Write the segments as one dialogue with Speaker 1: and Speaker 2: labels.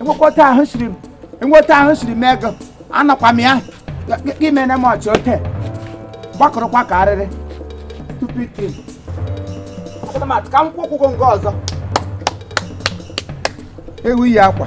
Speaker 1: enwekọta ahụ siri enweta ahụ siri m ego anọkwa m ya i mene m ọchị ote gbakọrọkwa ka arịrị stupid thing ka m kwụkwụgo nke ọzọ ewu yi akwa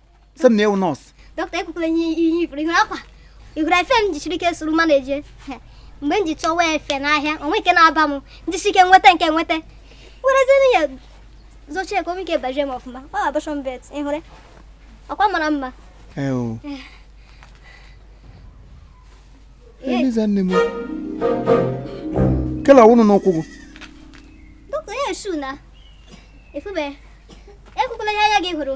Speaker 1: sị m na ewu nọọsụ dọkịta ekwukwala
Speaker 2: ihe ihe ị fụrụ ị hụrụ akwa ị hụrụ efe m jisiri ike zụrụ ma na-eje mgbe m ji chọwa efe n'ahịa o nweghị ke na-aba m m jisie ike nweta nke nweta werezie ya zochie ka o nwee ike bajie m ọfụma ọ abortion belt ị hụrụ akwa mara
Speaker 1: mma eliza nne m kele ọwụnụ n'ukwu gị dọkịta
Speaker 2: ya esu na efube ekwukwala ihe anya gị hụrụ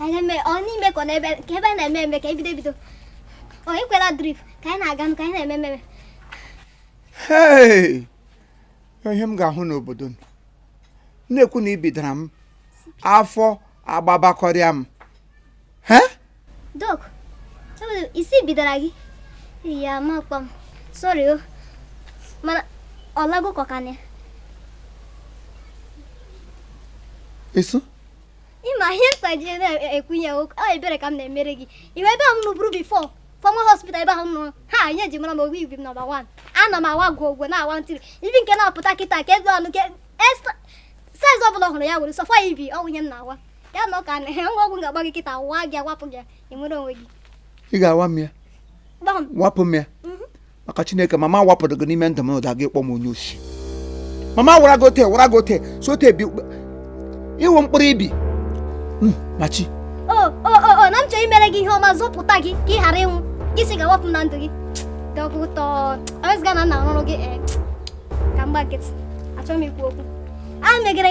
Speaker 2: anyị mee ọ n'ime ka ọ n'ebe ka ebe a na-eme eme ka e bido ebido ọ ekwela drip ka anyị na-aga nụ ka anyị na-eme
Speaker 1: ememe Hey! ihe m ga-ahụ n'obodo m na-ekwu na ibi dara m afọ agbabakọrịa m he
Speaker 2: doc enwere ị sị ibi dara gị ya amakpọ m sorry o mana ọ lago kọkana
Speaker 1: ịsụ
Speaker 2: ị ma ihe m ji na-ekwu ya ọ ebere ka m na-emere gị iwe ebe ahụ m nọburu before former hospital ebe ahụ m nọ ha ihe e ji mara m ọwa ibi number one ana m awa gwogwo na-awa ntiri ibi nke na-apụta kịta ka ego ọnụ ke size ọbụla ọ hụrụ ya wụrụ so far ibi ọ wụ ihe m na-awa ya na ọka na ngwa ọgwụ ga-agba gị kịta waa gị awapụ gị ị nwere onwe gị ị ga-awa m ya
Speaker 1: wapụ m ya mhm. maka chineke mama wapụrụ gị n'ime ndụ m ụda gị kpọ m onye osi mama wara gị ote wara gị ote si ote bi ị wụ mkpụrụ ibi Mm, machi o
Speaker 2: o o o na m chọrọ imere gị ihe ọma zọpụta gị ka ị ghara ịnwụ gị sị ị ga-awapụ m na ndụ gị dọkụtọ ewezuga na nna rụrụ gị ee ka m gba nkịtị achọghị m ikwu okwu a megere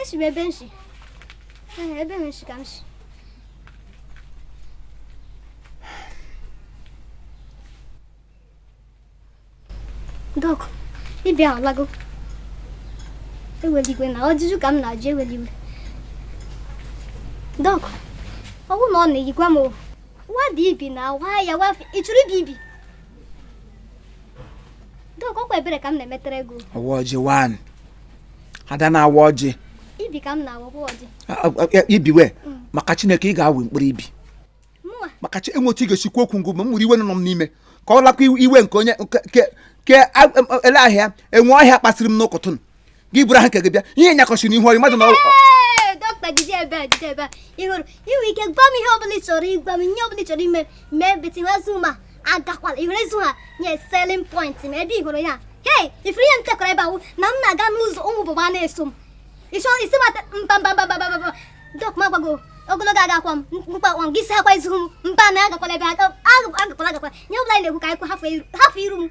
Speaker 1: esi m
Speaker 2: ebe m si ebe m si ka m si doc ibi a alago ewela iwe na ọjụjụ ka m na-ajụ ewela iwe doc ọ bụrụ na ọ na-eyikwa m nwa dị ibi na-awa ya wafe ị chụrụ ibi ibi doc ọkwa ebere ka m na-emetere gị o ọwa ọjị one
Speaker 1: ada na-awa ọjị
Speaker 2: ibi ka m na-awakwa ọjị
Speaker 1: ibiwe maka chineke ị ga-awụ mkpụrụ
Speaker 2: ibi maka chi enwe otu ị
Speaker 1: ga-esi kwu okwu ngụ ma m were iwe nọ m n'ime ka ọ lakwa iwe nke onye ke ele ahịa enwe ọhịa kpasịrị m n'ụtụtụ gị buru aha nke gị bịa ihe nyakọchi n'ihu ọyị mmadụ na mkpa jide ebe a
Speaker 2: jide ebe a ị hụrụ i nwe ike gwa m ihe ọbụla ị chọrọ ịgwa m ihe ọbụla ị chọrọ ime mee betiwazu ma agakwala ịhụrụ ezu ha nye selling point ma ebe ịhụrụ ya hei ịfụrụ ihe m tekọrọ ebe ahụ na m na-aga n'ụzọ ụmụ bụ ma na-eso m ịchọ isi mata mba mba mba mba mba dọk ma gbago ogologo agakwa m mkpa akwa m gị isi akwa izu m mba na agakwala ebe agakwala agakwala ihe ọbụla ị na-ekwu ka anyị kwu hafụ iru m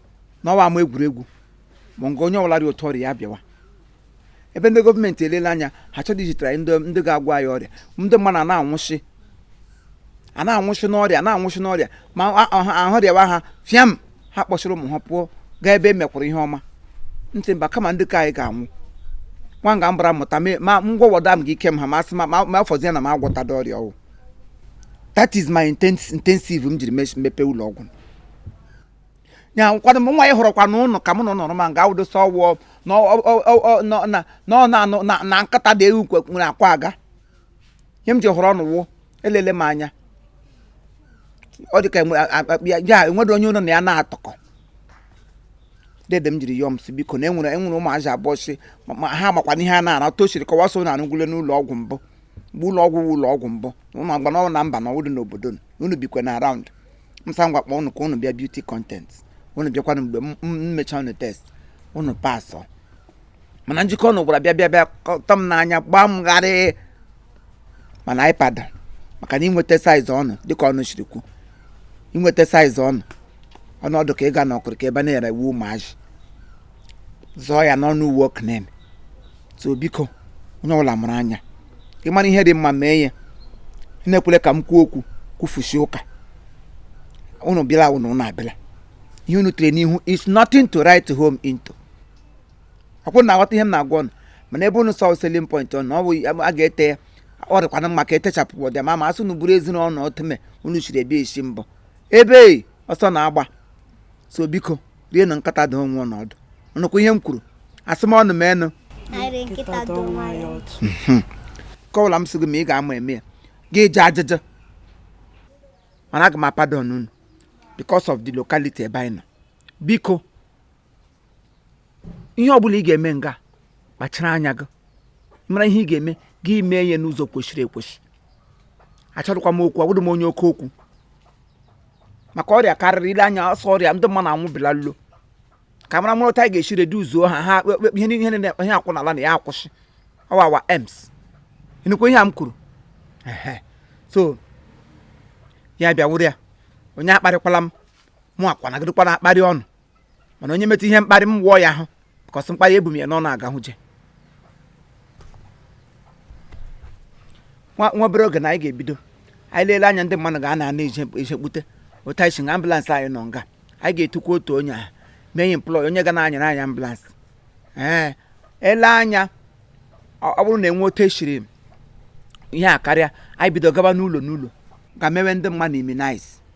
Speaker 1: n'ọwa ama egwuregwu ma nke onye ọbụla dị otu ọrịa ya bịawa ebe ndị gọọmenti elele anya ha chọrọ izitere anyị ndị ndị ga-agwa anyị ọrịa ndị mmadụ a na-anwụsị a na-anwụsị n'ọrịa na-anwụsị n'ọrịa ma a- ọha- ahụ rịawa ha fịam ha kpọsịrị ụmụ ha pụọ gaa ebe e mekwara ihe ọma m sị mba kama ndị ka anyị ga-anwụ nwa nga mbara mụta mee- ma ngwọwọda m gị ike m ha ma asị ma ma- ma afọzie na m agwọtada ọrịa ọwụ that is my inten- intensive m jiri mes- mepee ụlọ ọgwụ ya kwado m nwa ị hụrụkwa n'ụlọ ka mụ na nọrọ ma nga awụdosa ọwụ na ọ- ọ- ọ- ọ- na- na- na ọ na-anụ na- na nkata dị ewu kwe- nwere akwa aga ihe m ji họrọ unu wụ elele m anya ọ dị ka enwe- a- a- ya- ya enwere onye ụlọ na ya na-atọkọ dede m jiri yọọ m si biko na enwere enwere ụmụazị abụọ si ma- ma ha makwana ihe a na-ara tosiri kọwa so na arụgwule n'ụlọ ọgwụ mbụ mgbe ụlọ ọgwụ wụ ụlọ ọgwụ mbụ ụlọ agba na ọ na mba na ọwụdị n'obodo unu bikwe na around m sị ngwa kpọọ unu ka unu bịa beauty content unu bịakwanụ mgbe m m mechaa unu test unu pasọ mana njike unu gwara bịa bịa bịa kọtọ m n'anya gbaa m gharịị mana anyị pada maka na inweta size unu dịka unu siri kwu inweta size unu unu ọ dị ka ị ga na okirika ebe a na-ere uwe ụmụazị zụọ ya n'ọnụ uwe oknen so biko onye ọbụla mụrụ anya ị mara ihe dị mma mee ya na-ekwele ka m kwuo okwu kwufusi ụka unu bịala unu unu abịala ihe unu tere n'ihu is nothing to write home into ọkwa unu na-aghọta ihe m na-agwa unu mana ebe unu sị selling point unu ọ bụ a ga-ete ya ọ dịkwana mma ka etechapụ ọ dị mma ma asị unu bụrụ ezinụlọ otume unu siri ebi esi mbọ ebe ọsọ na-agba so biko rie na nkata dị onwe na ọdụ nụkwa ihe m kwuru asị m unu m enụ kọwara m sị gị ma ị ga-ama eme ya gị eji ajụjụ mana aga m apadon unu because of the locality ebe anyị nọ biko ihe ọbụla ị ga-eme nga kpachara anya gị mara ihe ị ga-eme gị mee ihe n'ụzọ kwesịrị ekwesị achọdịkwa m okwu awụdị m onye oke okwu maka ọrịa karịrị ile anya ọsọ ọrịa ndị mmadụ anwụbila lo ka mara mara otu a ga-esi reduzuo ha ha ihe ihe niile ihe akwụ n'ala na ya akwụsị ọwawa ems ịnụkwa ihe a m kwuru so ya bịa wụrụ ya onye akparịkwala m mụwakwa anaghịdịkwa na-akparị unu mana onye metụ ihe mkparị m wụọ ya ahụ because mkparị ebu m ya n'ọnụ aga hụje nwa nwa obere oge na anyị ga-ebido anyị leele anya ndị mmadụ ga ana ana ejekpute otu anyị si nga ambulance anyị nọ nga anyị ga-etukwa otu onye ahụ mee ya employ onye ga na-anyere anyị ambulance ee ele anya ọ ọ bụrụ na enwe otu esiri ihe a karịa anyị bido gaba n'ụlọ n'ụlọ ga mewe ndị mmadụ immunize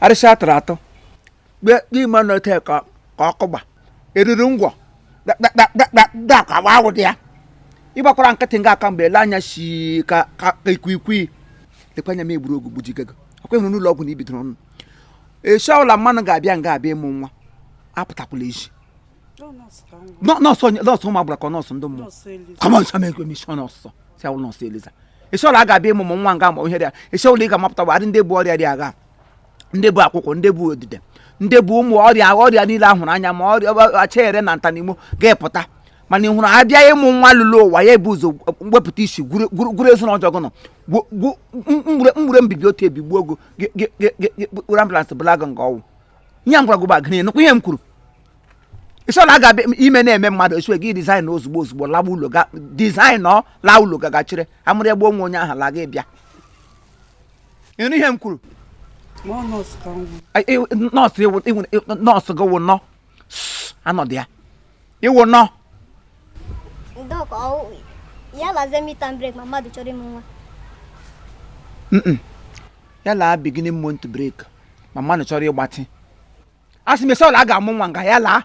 Speaker 1: arịshị atụrụ atụ kpe kpe ị ma na o teka ka ọkụ gba eriri ngwọ dakwa awụ dị ya ịgbakwara nkịtị nga aka mgbe ele anya si ka ka ka ikwikwii lekwa anya m egburu ogwu gbujigo gị ọkwa ịhụrụ n'ụlọ ọgwụ na ibidoro ọnụ eshi ọbụla mmanụ ga-abịa nga abịa ịmụ nwa apụtakwala ezi nọọsụ nọọsụ ụmụ agbara ka nọọsụ ndị mmụọ kọmọn chama ekwe mishọn nọọsụ si awụ nọọsụ Eliza eshi ọbụla a ga-abịa ịmụ nwa nga ma ihe dị ya eshi ọbụla ị ga-amapụta bụ adị ndị bu ọrịa dị agha ndị bu akwụkwụ ndị bu odide ndị bu ụmụ ọrịa ọrịa niile ahụrụ anya ma ọrịa achere na nta na imo ga-epụta mana ị hụrụ abịa ịmụ nwa lụlụ ụwa ya ebu ụzọ wepụta isi gwuru ezu na ọjọọ gụnọ mgbure mbibi otu ebi gbuo ogo kpụrụ ambulance bulaa gị nga ọ wụ ihe m gwara gị bụ agịrị nụkwa ihe m kwuru eshi ọla a ga ime na-eme mmadụ esi gị design ozugbo ozugbo lawa ụlọ ga design ọ laa ụlọ ga gachire amụrụ egbe onwe onye ahụ la gị bịa ịnụ ihe m kwuru Ma ọ nọọsụ ka m hụ. Ai, iwu- nọọsụ iwu- iwu- iwu- nọọsụ gị wụ nọ Sss, anọdụ ya ị wụ
Speaker 2: nọ Doc, ọ ya lazie midterm break ma mmadụ chọrọ ịmụ nwa. Mm-mm.
Speaker 1: ya laa beginning month break ma mmadụ chọrọ ịgbatị asị m eshi ọla a ga-amụ nwa nga ya laa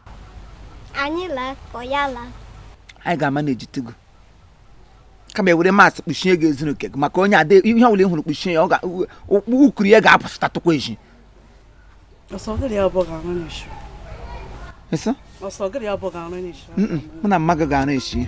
Speaker 2: anyị laa ka ya laa anyị ga-ama na
Speaker 1: ejitego kama ewere mask kpuchie gị ezuru nke gị maka onye ada ihe ọbụla ị hụrụ kpuchie ya ụkpụrụ ya ga-apụsịta tụkwa eji mụ na mma gị ga-arụ echi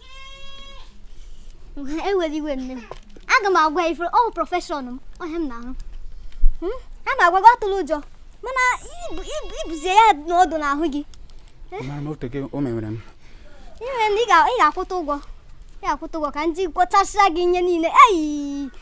Speaker 2: ewere iwe nne m aga m agwa ifere ọ profession m ọ ihe m na-arụ hmm? a ma agwa gị atụla ụjọ mana ibuzie ya nọdụ n'ahụ gị
Speaker 3: eh? o mewere m
Speaker 2: ị ga-akwụta ụgwọ ị ga-akwụta ụgwọ ka m ji gwọchasịa gị ihe niile eyi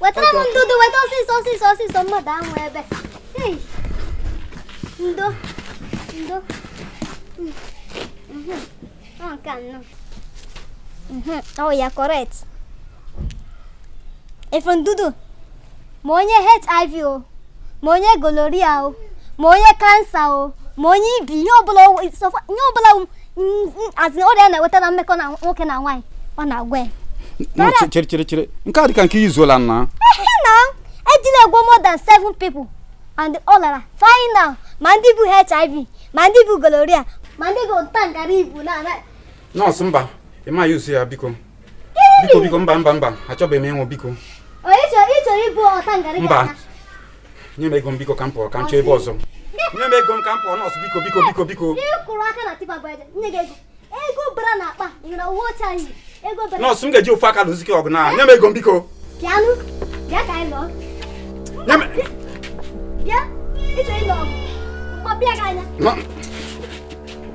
Speaker 2: wetara m ndụdụ weta ọsịsọ ọsịsọ ọsịsọ mmadụ ahụ ebe ndo ndo ọ nke anọ oya correct ịfụ ndụdụ ma onye HIV o ma onye gonorrhea o ma onye kansa o ma onye ibi ihe ọbụla asị ọrịa na-enweta na mmekọ na nwoke na nwaanyị ọ na-agwọ ya chere chere
Speaker 3: chere nke a dịka nke e use-ola na
Speaker 2: na ejila agwọ more than seven people and ọ lara final ma ndị bu hiv ma ndị bu gonorrhea ma ndị bu nta ngara ibu na nọọsụ mba
Speaker 3: ị ma use ya biko biko biko mba mba mba achọbeghị m ịnwụ biko mba nye m ego m biko ka m pụọ ka m chọọ ebe ọzọ nye m ego m ka m pụọ nọọsụ biko
Speaker 2: biko biko biko nọọsụ m ga-eji ofu aka lụsi
Speaker 3: gị ọgụ na nye m ego m biko
Speaker 2: Bịa, ị chọọ ịlụ ọgụ, m kpọpịa gị anya.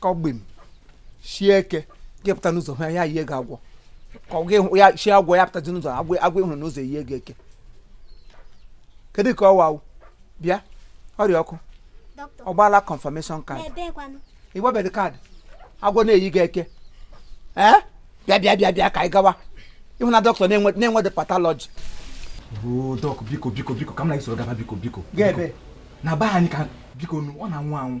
Speaker 1: kọgbim sie eke gị pụta n'ụzọ hụ ya ya yie gị agwọ ka ọ gị hụ ya sie agwọ ya pụtazi n'ụzọ agwọ agwọ ịhụrụ n'ụzọ eyie gị eke kedu ka ọ wawụ bịa oriakụ Doctor, ọ gbaala
Speaker 2: confirmation
Speaker 1: card n'ebe
Speaker 2: kwanụ. ịgbabeghị
Speaker 1: kaadị agwọ na-eyi gị eke ee bịa bịa bịa bịa ka anyị gawa ịhụ na dọkịta na-enwe na-enwedị patọlọji oo
Speaker 4: dọk biko biko biko ka m na gị soro gaba biko biko Gaa ebee?
Speaker 1: biko. na be
Speaker 4: anyị kwa bikonu ọ na-anwụ anwụ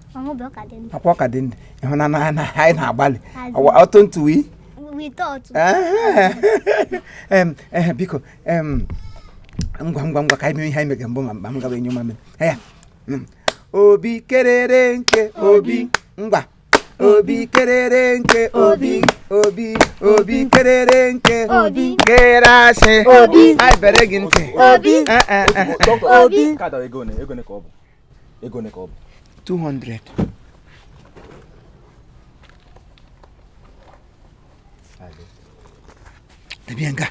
Speaker 2: ọkwa ọ ka dị ndụ
Speaker 1: ịhụ na anyị na-agbalị ọtụ ntụwi biko ngwa ngwa ngwa ka anyị mee ihe anyị mege mbụ ma mba m gawa enyo mamịrị ya mm. obi kerere nke obi ngwa obi kerere nke obi obi obi kerere nke obi kere
Speaker 2: asị
Speaker 1: obi anyị bere
Speaker 2: gị ntị
Speaker 1: obi
Speaker 2: eh, eh,
Speaker 4: eh. obi ego ole ka ọ bụ
Speaker 1: 200 debe ya nga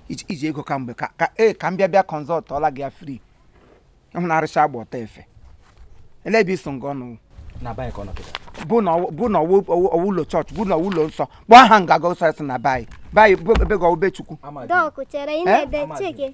Speaker 1: iji iji ego kamgbe ka ka ee ka m bịa bịa consult ọla gị ya free ịhụ na arịcha agba ọta efe ele ebe iso nga ọnụ na bank ọ nọ
Speaker 4: kịta bụ na ọwụ- bụ
Speaker 1: na ọwụ ọwụ- ọwụ ụlọ chọọchị bụ na ọwụ ụlọ nsọ kpọọ aha nga gọsọsị na bayi bayi bụ ebe gị ọwụ be chukwu ama dị Dọk chere ị
Speaker 2: na-ede chike.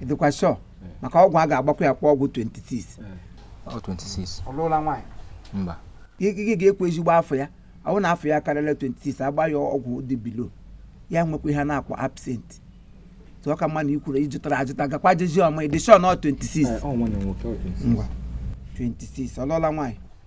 Speaker 2: ị dịkwa
Speaker 1: sure maka ọgwụ a ga-agbakwa ya kwa
Speaker 4: ọgwụ 26 gị ga-ekwu
Speaker 1: ezigbo afọ ya ọ bụrụ na afọ ya karịrị 26 agba ya ọgwụ dị below ya nwekwa ihe a na-akpọ absent ọ ka mma na ikwuru ịjụtara ajụta gakwa jezi ọma ị dị sure na ọ 26 ngwa
Speaker 4: 26
Speaker 1: ọlụọla
Speaker 4: nwaanyị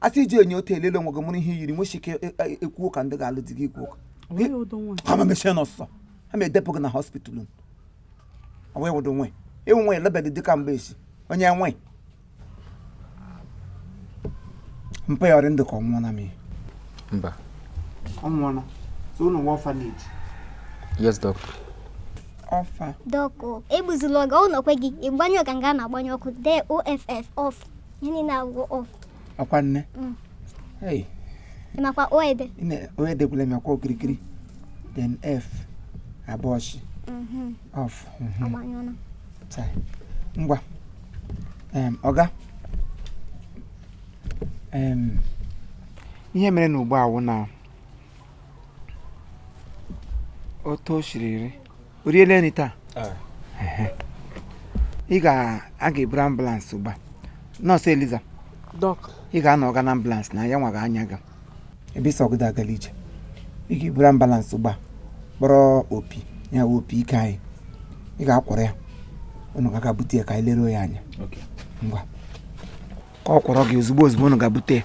Speaker 1: asị iji enye otu elele onwe gị mụrụ ihe yiri nwesi ike e- e- ekwu ụka ndị ga-alụ di gị ikwu ụka onweghị ụdọ nwa ha ma mechie ọnụ ọsọsọ ha ma edepụ gị na hospital unu ọ wee wụdụ nwe ịnwe nwe elebedị dịka mgbe esi onye nwe mpa ya ọ rị ndụ ka ọ nwụọla m ihe
Speaker 5: mba
Speaker 1: ọ nwụọla so ọ wụ nwa orphanage yes
Speaker 5: doctor ọfa
Speaker 1: doc
Speaker 2: egbuzila oge ọ nọkwe gị ịgbanye ọka nga a na-agbanye ọkụ dee off off ọkwa
Speaker 1: nne
Speaker 2: mm. makwa o ede o ede gwule
Speaker 1: m akwa okirikiri then f abụọ sị mm-hmm. off
Speaker 2: mm-hmm.
Speaker 1: ngwa ọga ihe mere na ugbu a wụ na otu o siri rị o riele nri taa ị ga-a ga-eburu ambulance ugbu a nọọsụ eliza ị
Speaker 6: ga-anọ ọga na
Speaker 1: ambulance na ya nwa ga-anya ga ebe isi ọgụda agala ije ị ga-eburu ambulance ugbu a kpọrọ opi ya wụ opi ike anyị ị ga-akwọrọ ya unu ga-aga bute ya ka anyị leruo ya anya ngwa ka ọ kwọrọ gị ozugbo ozugbo unu ga-abute ya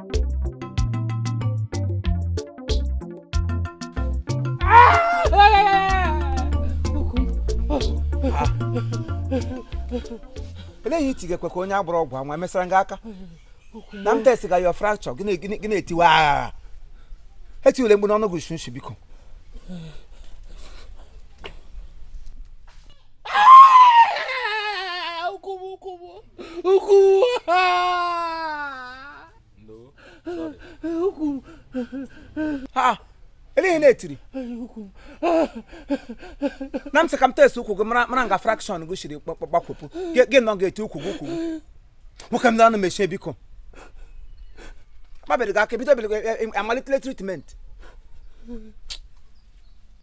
Speaker 1: ele ihe i tigekwe ka onye agbọrọ ọgwụ anwa emesara gị aka na m test ga your fracture gị na-etiwe aghara etiwele mkpu n'ọnụ gị si usi biko ha ele ihe ị na-etiri na m sị ka m test ụkwụ gị mara nga fraction gị siri gbakwepụ gị nọ ga-eti ụkwụ gị ụkwụ gị nwoke m na-anụ mechie biko kpabiri gị aka bido biri amalitele treatment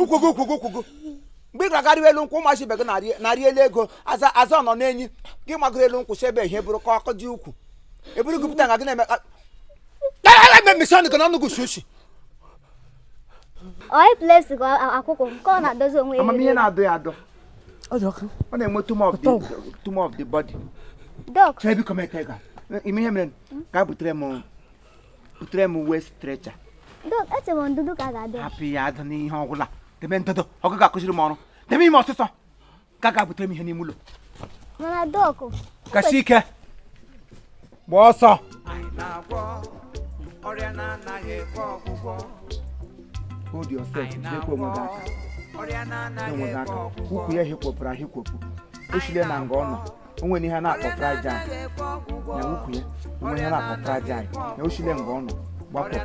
Speaker 1: ụkwụ gị ụkwụ gị ụkwụ gị mgbe ị ga-agarị elu nkwụ ụmụachi ibe gị na-arị elu ego aza aza nọ n'enyi gị magoro elu nkwụ si ebe ihe bụrụ ka ọkụ dị ukwu eburu gị pụta nga gị na-eme mechie ọnụ gị na ọnụ gị si usi
Speaker 2: onye plesi ka akwụkwọ nke ọ na-adozi onwe ya amamihe na-adọ
Speaker 1: ya
Speaker 6: adọ ọ na-enwe too
Speaker 1: much of the body chọọ biko m eke ga ime ihe mere ka a butere m butere m wheel stretcher eche
Speaker 2: m ndụdụ ka a ga-adụ ya hapụ ya adụ
Speaker 1: n'ihe ọgwụla debe ndụdụ ọ gị ga-akụziri m ọrụ debe ime ọsụsọ ka ga butere m ihe n'ime ụlọ mana doc
Speaker 2: kasi ike
Speaker 1: gbaa
Speaker 7: ọsọ ọrịa na-anaghị ekwe
Speaker 1: ọgwụgwọ hold yourself jidekwa onwe gị aka ọrịa na-anaghị
Speaker 7: ekwe ọgwụgwọ ukwu
Speaker 1: ya
Speaker 7: hikwopụrụ ahikwopụ
Speaker 1: o sile na nga ọ nọ o nwere ihe a na-akpọ fragile na ukwu ya o nwere ihe a na-akpọ fragile na o shile nga ọ nọ gbapụta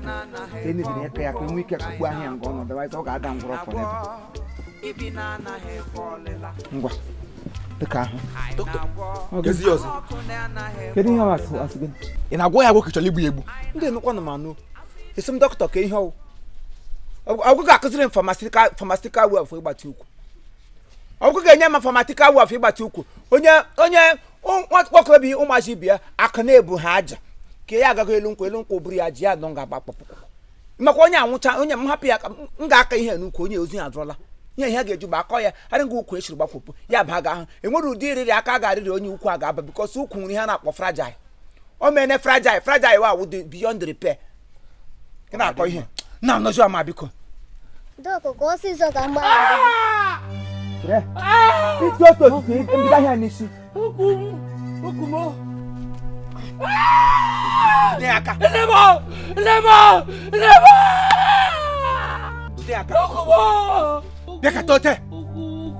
Speaker 1: ka e mebiri aka ya ka enwe ike kụkpu ahịa nga ọ nọ otherwise ọ ga-ada ngwụrọ forever
Speaker 7: ngwa
Speaker 1: dịka ahụ dọkịta Ọ gị-
Speaker 4: ezi ya
Speaker 7: ọzọ kedu ihe ọ asị
Speaker 1: asị gị ị na-agwọ ya agwọ ka ị
Speaker 4: chọrọ igbu ya egbu ndị nụkwanụ m anụ
Speaker 1: asị m dọkịta ka ihe ọ wụ ọ gị ga-akụziri m pharmaceutical way of ịgbatị ukwu ọ gị ga-enye m pharmaceutical way of ịgbatị ukwu onye onye nwokorobịa ụmụazị ibe ya aka na-ebu ha aja ka ya agaghị elu nkwụ elu nkwụ buru ya ji ya nọ nga agbakpọpụ makwa onye anwụcha onye m hapụ ya ka m ga-aka ihe n'ukwu onye ozi ya adụrọla ihe ihe ga-eju bụ akọ ya adị nga ukwu shiri gbakwụpụ ya ba ga ahụ enwere ụdị iriri aka ga-arịrị onye ukwu a ga-aba because ukwu nwere ihe a na-akpọ fragile o mene fragile fragile wa awụ beyond repair ị na-akọ ihe na anọzi ama biko dọkụkọ
Speaker 2: ọsịsọ ka mgbe
Speaker 1: ịtụ otu otu mbido ahịa n'isi nye ya aka jide ya aka bịa kata ote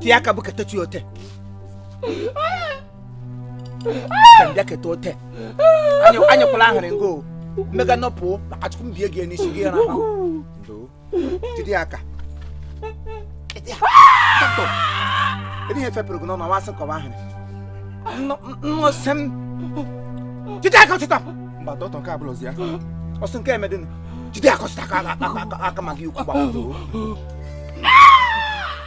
Speaker 1: tie aka bụ kata chi ote bịa keta ote anyekwala ahịrị ngo mmega nọpụ achụkwụ mbie gị n'isi gị ra jide ya aka ebe ihe fepụrụ gị n'ọnụ wasị kọwa ahịrị nnọsị m jide aka ọchịta mba dọkịta nke abụla ozi ya ọsọ nke emedịnụ jide aka ọchịta aka aka ma gị ukwu gbaa